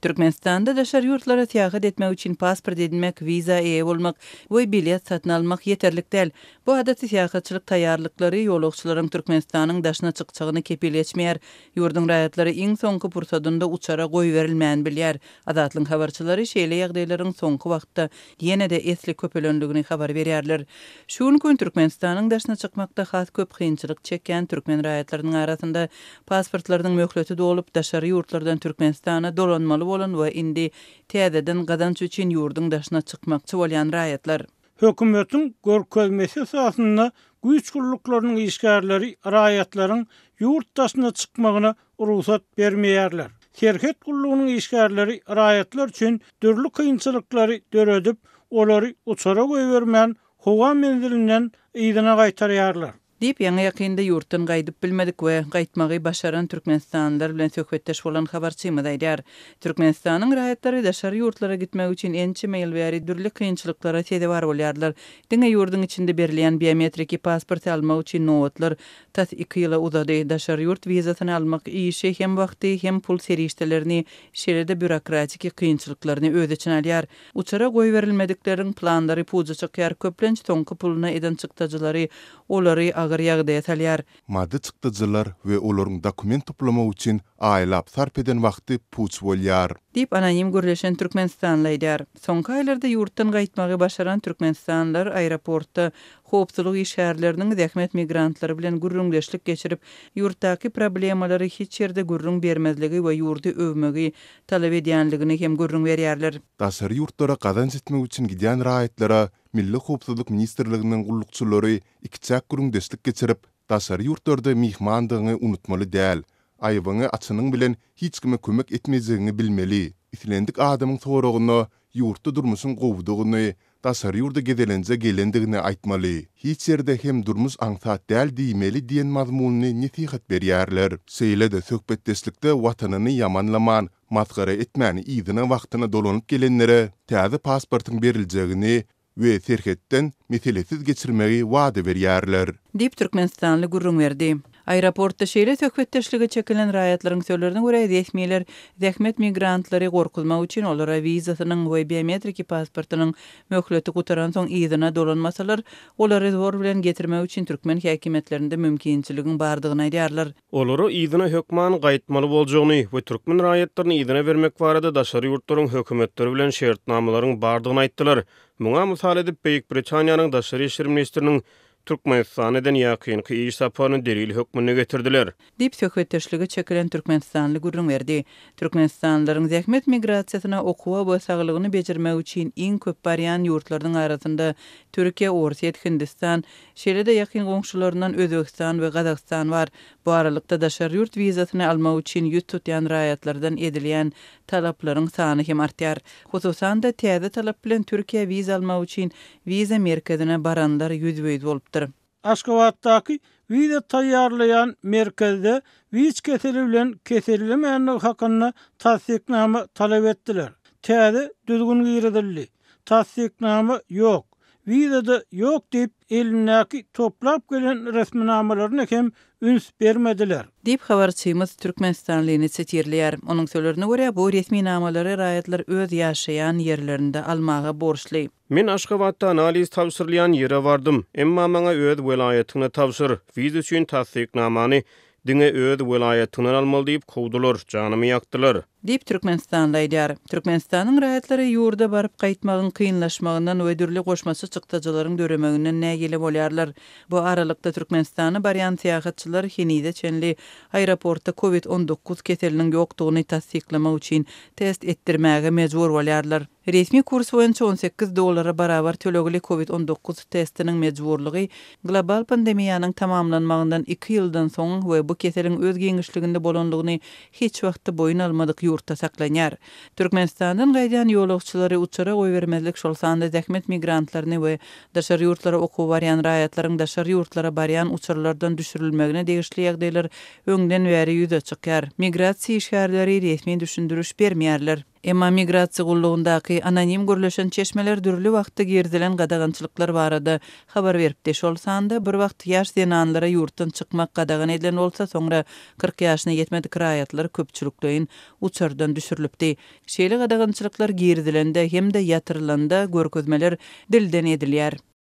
Türkmenistanda daşary ýurtlara syýahat etmek üçin pasport edinmek, wiza eýe bolmak we bilet satyn almak ýeterlik däl. Bu adaty syýahatçylyk taýýarlyklary ýolagçylaryň Türkmenistanyň daşyna çykjagyny kepil geçmeýär. Ýurduň raýatlary iň soňky pursadynda uçara goýberilmäni bilýär. Azatlygyň habarçylary şeýle ýagdaýlaryň soňky wagtda ýene-de esli köpelendigini habar berýärler. Şu günki gün Türkmenistanyň daşyna çykmakda has köp kynçylyk çekýän türkmen raýatlarynyň arasynda Pasportlarynyň möhleti dolup, daşary ýurtlardan Türkmenistana dolanmaly bolan we indi täzeden gazanç üçin ýurduň daşyna çykmakçy bolýan raýatlar. Hökümetiň görkezmesi esasynda güýç gulluklarynyň işgärleri raýatlaryň ýurt daşyna çykmagyna rugsat bermeýärler. Serhet gullugynyň işgärleri raýatlar üçin dürli kynçylyklary döredip, olary uçara goýbermän, howa menzilinden yzyna gaýtarýarlar. Diýip, ýaňy-ýakynda ýurtdan gaýdyp bilmedik we gaýtmagy başaran türkmenistanlylar bilen söhbetdeş bolan habarçymyz aýdýar. Türkmenistanyň raýatlary daşary ýurtlara gitmek üçin ençeme ýyl bäri dürli kynçylyklara sezewar bolýarlar. Diňe ýurduň içinde berilýän biometriki pasporty almak üçin nobatlar tas iki ýyla uzady. Daşary ýurt wizasyny almak işi hem wagty, hem pul serişdelerini, şeýle-de býurokratiki kynçylyklaryny öz içine alýar. Uçara goýberilmedikleriň planlary puja çykýar, köplenç soňky puluna eden çykdajylary olary agyr ýagdaýa salýar. Maddy çykdajylar we olaryň dokument toplamagy üçin aýlap sarp eden wagty puç bolýar. Diýip, anonim gürleşen türkmenistanly aýdýar. Soňky aýlarda ýurtdan gaýtmagy başaran türkmenistanlylar aeroportda howpsuzlyk işgärleriniň zähmet migrantlary bilen gürrüňdeşlik geçirip, ýurtdaky problemalary hiç ýerde gürrüň bermezligi we ýurdy öwmegi talap edýändigini hem gürrüň berýärler. Daşary ýurtlara gazanç etmek üçin gidýän raýatlara Milli howpsuzlyk ministrliginiň gullukçylary ikiçäk gürrüňdeşlik geçirip, daşary ýurtlarda myhmandygyňy unutmaly däl, aýabyňy açanyň bilen hiç kime kömek etmejekdigiňi bilmeli, islendik adamyň soragyna Ýurtda durmuşyň gowudygyny, daşary ýurda gezelenje gelendigini aýtmaly, hiç ýerde hem durmuş aňsat däl diýmeli diýen mazmunly nesihat berýärler. Şeýle-de söhbetdeşlikde watanyny ýamanlaman, masgara etmän yzyna wagtyna dolanyp gelenlere täze pasportyň beriljegini, we serhetden meselesiz geçirmegi wada berýärler. Diýip, türkmenistanly gürrüň berdi. Aeroportda şeýle söhbetdeşlige çekilen raýatlaryň sözlerine görä, resmiler zähmet migrantlary gorkuzmak üçin olara wizasynyň we biometriki pasportynyň möhleti gutaransoň yzyna dolanmasalar, olary zor bilen getirmek üçin türkmen häkimiýetlerinde mümkinçiligiň bardygyny aýdýarlar. olara yzyna hökman gaýtmaly boljagyny we türkmen raýatlaryny yzyna bermek barada daşary ýurtlaryň hökümetleri bilen şertnamalaryň bardygyny aýtdylar. Muňa mysal edip, Beýik Britaniýanyň daşary işler ministriniň Türkmenistana eden ýakynky iş saparyny delil hökmünde getirdiler. Diýip, söhbetdeşlige çekilen türkmenistanly gürrüň berdi. Türkmenistanlylaryň zähmet migrasiýasyna okuwa we saglygyny bejermek üçin iň köp barýan ýurtlarynyň arasynda Türkiýe, Orsýet, Hindistan, Şeýle-de ýakyn goňşularyndan Özbegistan we Gazagystan bar. Bu aralykda daşary ýurt wizasyny almak üçin ýüz tutýan raýatlardan edilýän talaplaryň sany hem artýar. Hususan-da, täze talap bilen Türkiýä wiza almak üçin wiza merkezine baranlar ýüzbe-ýüz bolupdyr. Aşgabatdaky wiza taýýarlaýan merkezde wic keseli bilen kesellemändigi hakynda tassyknama talap etdiler. Täze düzgün girizildi. Tassyknama ýok, wiza-da ýok diýip, elindäki toplap gelen resminamalaryna hem üns bermediler. Diýip, habarçymyz Türkmenistanlyny sitirleýär. Onuň sözlerine görä, bu resminamalary raýatlar öz ýaşaýan ýerlerinde almaga borçly. Men Aşgabatda analiz tabşyrylýan ýere bardym, emma maňa öz welaýatyňda tabşyr, wiza üçin tassyknamany Diňe öz welaýatyňdan almaly diýip kowdular, janymy ýakdylar. Diýip, türkmenistanly aýdýar. Türkmenistanyň raýatlary ýurda baryp-gaýtmagyň kynlaşmagyndan we dürli goşmaça çykdajylaryň döremeginden nägile bolýarlar. Bu aralykda, Türkmenistana barýan syýahatçylar henize çenli aeroportda Covid on dokuz keseliniň ýokdugyny tassyklamak üçin test etdirmäge mejbur bolýarlar. Resmi kurs boýunça on sekiz dollara barabar tölegli Covid on dokuz testiniň mejburlygy global pandemiýanyň tamamlanmagyndan iki ýyldan soň we bu keseliň öz giňişliginde bolanlygyny hiç wagtda boýun almadyk ýurtda saklanýar. Türkmenistandan gaýdýan ýolagçylary uçara goýbermezlik şol sanda zähmet migrantlaryny we daşary ýurtlara okuwa barýan raýatlaryň daşary ýurtlara barýan uçarlardan düşürilmegine degişli ýagdaýlar öňden bäri ýüze çykýar, migrasiýa işgärleri resmi düşündiriş bermeýärler. Emma migrasiýa gullugyndaky anonim gürleşen çeşmeler dürli wagtda girizilen gadagançylyklar barada habar beripdi, şol sanda bir wagt ýaş zenanlara ýurtdan çykmak gadagan edilen bolsa, soňra kyrk ýaşyna ýetmedik raýatlar köpçülikleýin uçardan düşürilipdi. Şeýle gadagançylyklar girizilende hem-de ýatyrylanda görkezmeler dilden edilýär.